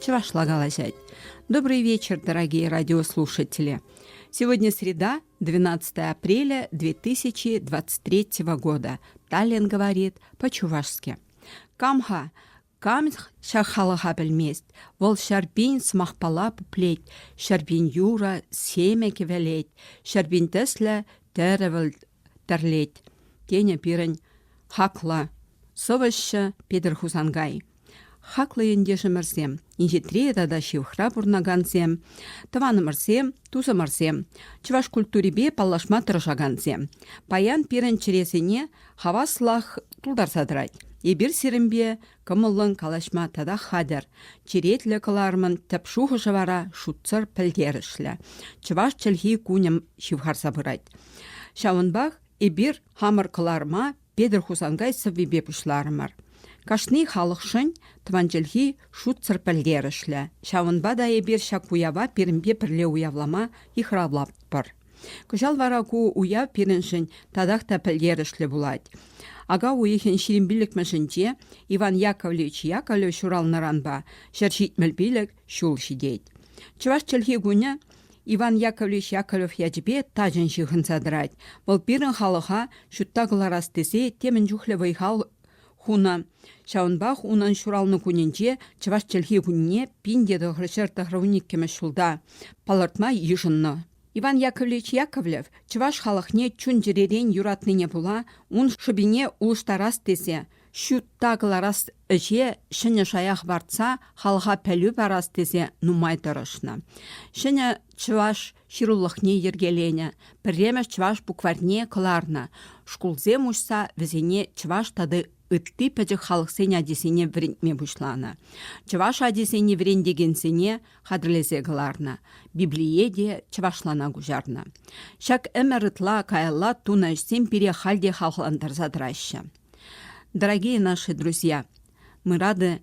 чӑвашла калаҫать. Добрый вечер, дорогие радиослушатели. Сегодня среда, 12 апреля 2023 года. Таллин говорит по-чувашски. Камха Камх ҫак халӑха пӗлмест. Вӑл ҫарпин сӑмахпала пуплет, ҫарпин юра семе кӗвӗлет, ҫарпин тӗслӗ тӗрӗвӗл пӗрлет, тенӗ пирӗн хаклӑ сӑвӑҫҫӑ Петӗр Хусанкай. Хаклӑ ентешӗмӗрсем, инҫетре тата ҫывӑхра пурӑнакансем, тӑванӑмӑрсем, тусӑмӑрсем, чӑваш культурипе паллашма тӑрӑшакансем, паян пирӗн чӗресене хаваслах тултарса тӑрать. Эпир сирӗнпе Кӑмӑллӑн калаҫма татах хатӗр. Черетлӗ кӑларӑмӑн тӗп шухӑшӗ вара шутсӑр пӗлтерӗшлӗ. Чӑваш чӗлхи кунӗм ҫывхарса пырать. Ҫавӑнпах эпир хамӑр кӑларӑма Петӗр Хусанкай сӑввипе пуҫларӑмӑр. Кашни халӑхшӑн тӑван чӗлхи шутсӑр пӗлтерӗшлӗ. Ҫавӑнпа та эпир ҫак уява пирӗнпе пӗрле уявлама йыхравлатпӑр. Кӑҫал вара ку уяв пирӗншӗн татах та пӗлтерӗшлӗ пулать. Ака уйӑхӗн ҫирӗм пиллӗкмӗшӗнче Иван Яковлевич Яковлев ҫуралнӑранпа ҫӗр ҫитмӗл пилӗк ҫул ҫитет. Чӑваш чӗлхи кунӗ Иван Яковлевич Яковлев ячӗпе тачӑн ҫыхӑнса тӑрать. Вӑл пирӗн халӑха ҫутта кӑларас тесе темӗн чухлӗ вӑй-хал хунӑ. Ҫавӑнпах унӑн ҫуралнӑ кунӗнче чӑваш чӗлхи кунне пин те тӑхӑр ҫӗр тӑхӑрвун иккӗмӗш ҫулта палӑртма йышӑннӑ. Иван Яковлевич Яковлев чӑваш халӑхне чун-чӗререн юратнине пула ун шӑпине улӑштарас тесе ҫутта кӑларас ӗҫе ҫӗнӗ шая хӑпартса халӑха пӗлӳ парас тесе нумай тӑрӑшнӑ. Ҫӗнӗ чӑваш ҫырулӑхне йӗркеленӗ, пӗрремӗш чӑваш букварьне кӑларнӑ. Шкулсем уҫса вӗсене чӑваш тата ытти пӗчӗк халӑхсен ачисене вӗрентме пуҫланӑ. Чӑваш ачисене вӗрентекенсене хатӗрлесе кӑларнӑ, Библие те чӑвашлана куҫарнӑ. Ҫак ӗмӗр ытла каялла тунӑ ӗҫсем пире халь те хавхалантарса тӑраҫҫӗ. Дорогие наши друзья, мы рады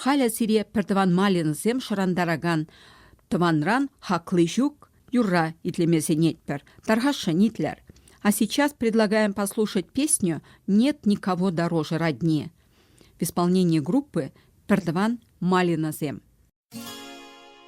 Халӗ сире пӗртӑван Малинӑсем шӑрантаракан тӑванран хакли ҫук юрра итлеме сӗнетпӗр. Тархасшӑн, итлер. А сейчас предлагаем послушать песню «Нет никого дороже родни» в исполнении группы «Пӗртӑван Малинӑсем».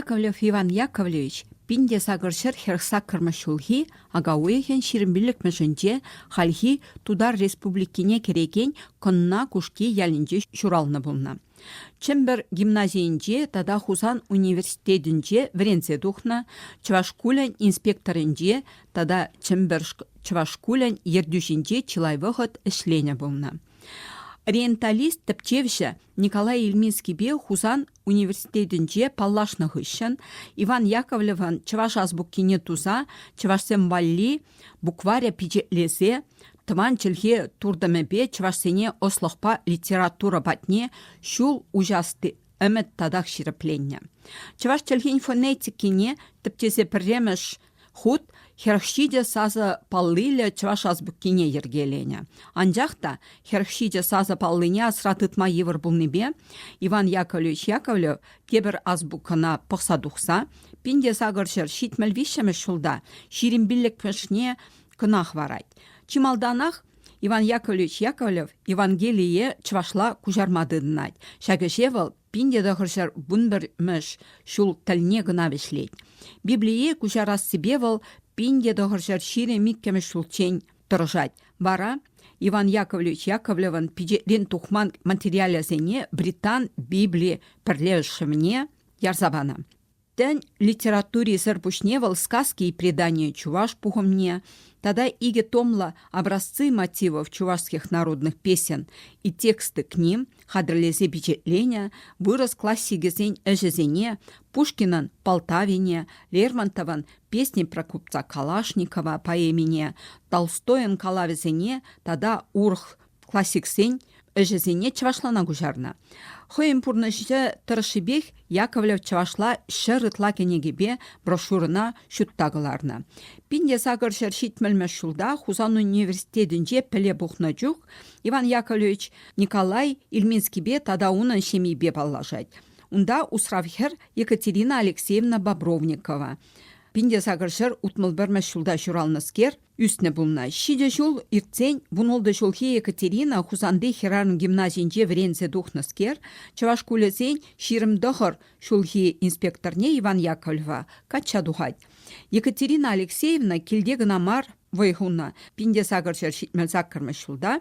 Яковлев Иван Яковлевич пин те сакӑр ҫӗр хӗрх саккӑрмӗш ҫулхи ака уйӑхӗн ҫирӗмпиллӗкмӗшӗнче хальхи Тутар Республикине кӗрекен Кӑнна Кушки ялӗнче ҫуралнӑ пулнӑ. Чӗмпӗр гимназийӗнче тата Хусан университетӗнче вӗренсе тухнӑ, чӑваш шкулӗн инспекторӗнче тата Чӗмпӗршк чӑваш шкулӗн ертӳҫинче чылай вӑхӑт ӗҫленӗ пулнӑ. Ориенталист тӗпчевҫӗ Николай Ильминскипе Хусан университетӗнче паллашнӑ хыҫҫӑн Иван Яковлевӑн чӑваш азбукине туса чӑвашсем валли букваря пичетлесе тӑван чӗлхе туртӑмӗпе чӑвашсене ӑслӑхпа литература патне ҫул уҫасси ӗмӗт татах ҫирӗпленнӗ. Чӑваш чӗлхин фонетикине тӗпчесе пӗрремӗш хут хӗрӗх ҫичӗ сасӑ паллиллӗ чӑваш азбукине йӗркеленӗ. Анчах та хӗрӗх ҫичӗ сасӑ паллине асра тытма йывӑр пулнипе Иван Яковлевич Яковлев тепӗр азбукӑна пӑхса тухса пин те сакӑр ҫӗр ҫитмӗл виҫҫӗмӗш ҫулта ҫирӗм пиллӗкмӗшне кӑнах варать. Чи малтанах Иван Яковлевич Яковлев Евангелие чӑвашла куҫарма тытӑнать. Ҫак ӗҫе вӑл пинте тӑхӑрҫӗр вунпӗрмӗш ҫул тӗлне кӑна вӗҫлет. Библие куҫарассипе вӑл пинте тӑхӑрҫӗр ҫирӗм иккӗмӗш ҫулччен тӑрӑшать. Вара Иван Яковлевич Яковлевӑн пичетрен тухман материалӗсене Британ Библи пӗрлешӗвне ярса панӑ. Тен, литературисӗр пуҫне вӑл Сказки и предания чӑваш пухӑмне тата икӗ томлӑ образцы мотивов чувашских народных песен и тексты к ним хатӗрлесе пичетленӗ вырӑс классикӗсен ӗҫӗсене Пушкинӑн Полтавине, Лермонтовӑн Песни про купца Калашникова поэмине, Толстойӑн калавӗсене тата урӑх классиксен ӗҫӗсене чӑвашлана куҫарнӑ. Хӑйӗн пурнӑҫӗ тӑрӑшшипех Яковлев чӑвашла ҫӗр ытла кӗнекипе брошюрӑна ҫутта кӑларнӑ. Пинте сакӑр ҫӗр ҫитмӗлмӗш ҫулта Хусан университетӗнче пӗле пухнӑ чух Иван Яковлевич Николай Ильминскипе тата унӑн ҫемйипе паллашать. Унта усрав хӗр Екатерина Алексеевна Бобровникова. Пинте сакӑр ҫӗр утмӑл пӗрмӗш ҫулта ҫуралнӑскер Ӳснӗ пулнӑ. Ҫичӗ ҫул иртсен вунултӑ ҫулхи Екатерина Хусанти хӗрарӑм гимназийӗнче вӗренсе тухнӑскер чӑваш шкулӗсен ҫирӗм тӑхӑр ҫулхи инспекторне Иван Яковлева качча тухать. Екатерина Алексеевна килте кӑна мар вӑй хунӑ. Пинте-сакӑрҫӗр ҫитмӗл саккӑрмӗш ҫулта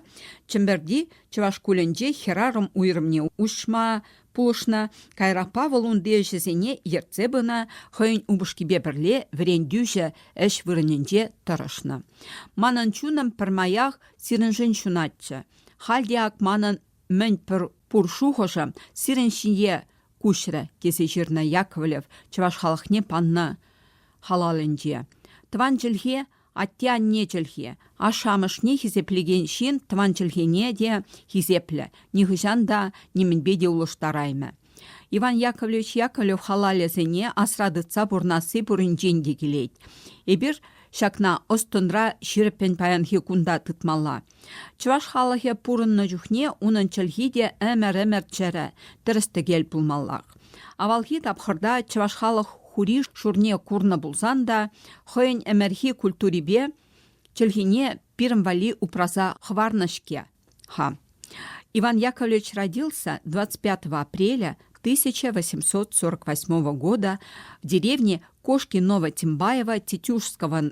Чӗмпӗрти чӑваш шкулӗнче хӗрарӑм уйрӑмне уҫма, Пулӑшнӑ кайракпа вӑл унти ӗҫӗсене ертсе пынӑ, хӑйӗн упӑшкипе пӗрле вӗрентӳҫӗ ӗҫ вырӑнӗнче тӑрӑшнӑ. Манӑн чунӑм пӗрмаях сирӗншӗн ҫунатчӗ. Халь те ак манӑн мӗн пур шухӑшӑм сирӗн ҫине куҫрӗ, тесе ҫырнӑ Яковлев чӑваш халӑхне панӑ халалӗнче. Тӑван чӗлхе Атте-анне чӗлхи. Ашшӗ-амӑшне хисеплекен ҫын тӑван чӗлхене те хисеплӗ, нихӑҫан та нимӗнпе те улӑштараймӗ. Иван Яковлевич Яковлев халалӗсене асра тытса пурӑнасси пуринчен те килет. Эпир ҫакна ӑс-тӑнра ҫирӗппӗн паянхи кунта тытмалла. Чӑваш халӑхӗ пурӑннӑ чухне унӑн чӗлхи те ӗмӗр-ӗмӗр чӗрӗ, тӗрӗс-тӗкел пулмаллах. Авалхи тапхӑрта чӑваш халӑх хури шурне курнӑ пулсан та хӑйӗн ӗмӗрхи культурипе чӗлхине пирӗн валли упраса хӑварнӑ-ҫке. Ха. Иван Яковлевич родился 25 апреля 1848 года в деревне Кошки Ново-Тимбаево Тетюшского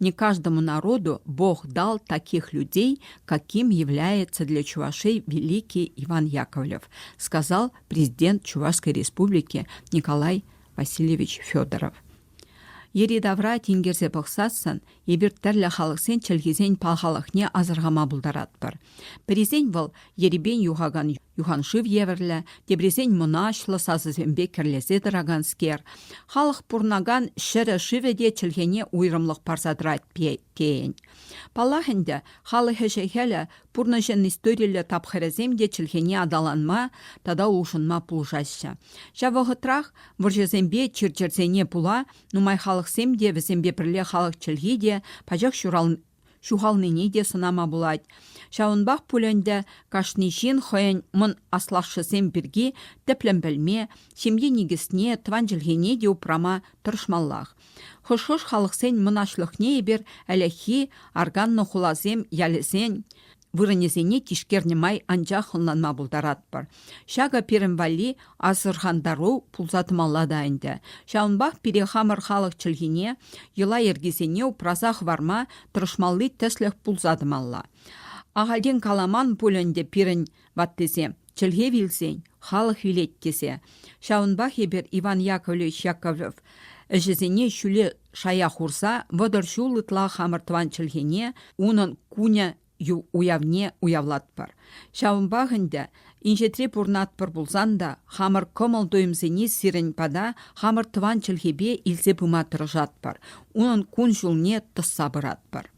Не каждому народу Бог дал таких людей, каким является для Чувашей великий Иван Яковлев, сказал президент Чувашской республики Николай Васильевич Федоров. Йӗри-тавра тинкерсе пӑхсассӑн эпир тӗрлӗ халӑхсен чӗлхисен пахалӑхне асӑрхама пултаратпӑр. Пӗрисен вӑл ерипен юхакан юханшыв евӗрлӗ, теприсен мӑнаҫлӑ сасӑсемпе кӗрлесе тӑраканскер. Халӑх пурӑнакан ҫӗрӗ-шывӗ те чӗлхене уйрӑмлӑх парса тӑрать тейӗн. Паллах ӗнтӗ, халӑх ӗҫӗ-хӗлӗ, пурнӑҫӑн историллӗ тапхӑрӗсем те чӗлхене аталанма тата улшӑнма пулӑшаҫҫӗ. Ҫав вӑхӑтрах вӑрҫӑсемпе чир-чӗрсене пула нумай халӑхсем те вӗсемпе пӗрле халӑх чӗлхи те пачах ҫурал ҫухалнине те сӑнама пулать. Ҫавӑнпах пуль ӗнтӗ кашни ҫын хӑйӗн мӑн аслашшӗсем пирки тӗплӗн пӗлме, ҫемье никӗсне, тӑван чӗлхене те упрама тӑрӑшмаллах. Хӑш-хӑш халӑхсен мӑнаҫлӑхне эпир ӗлӗкхи арканнӑ хуласем, ялӗсен, вырӑнӗсене тишкернӗ май анчах ӑнланма пултаратпӑр. Ҫакӑ пирӗн валли асӑрхантару пулса тӑмалла та ӗнтӗ. Ҫавӑнпах пире хамӑр халӑх чӗлхине, йӑла-йӗркисене упраса хӑварма тӑрӑшмалли тӗслӗх пулса тӑмалла. Ахальтен каламан пуль ӗнтӗ пирӗн ваттисем, Чӗлхе вилсен, халӑх вилет тесе. Ҫавӑнпах эпир Иван Яковлевич Яковлев ӗҫӗсене ҫӳле шая хурса вӑтӑр ҫул ытла хамӑр тӑван чӗлхене, унӑн кунӗ уявне уявлатпӑр. Ҫавӑнпах ӗнтӗ инҫетре пурӑнатпӑр пулсан та хамӑр кӑмӑл-туйӑмсене сирӗн пата хамӑр тӑван чӗлхепе илсе пыма тӑрӑшатпӑр, унӑн кун-ҫулне тӑсса пыратпӑр.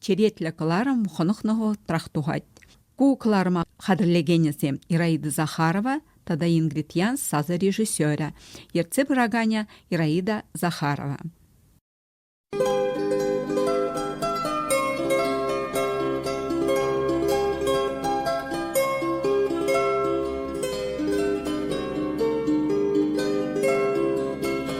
черетлӗ кӑларӑм хӑнӑхнӑ вӑхӑтрах тухать. Ку кӑларӑма хатӗрлекенӗсем Ираида Захарова тата Ингрид Янс сасӑ режиссерӗ, ертсе пыраканӗ Ираида Захарова.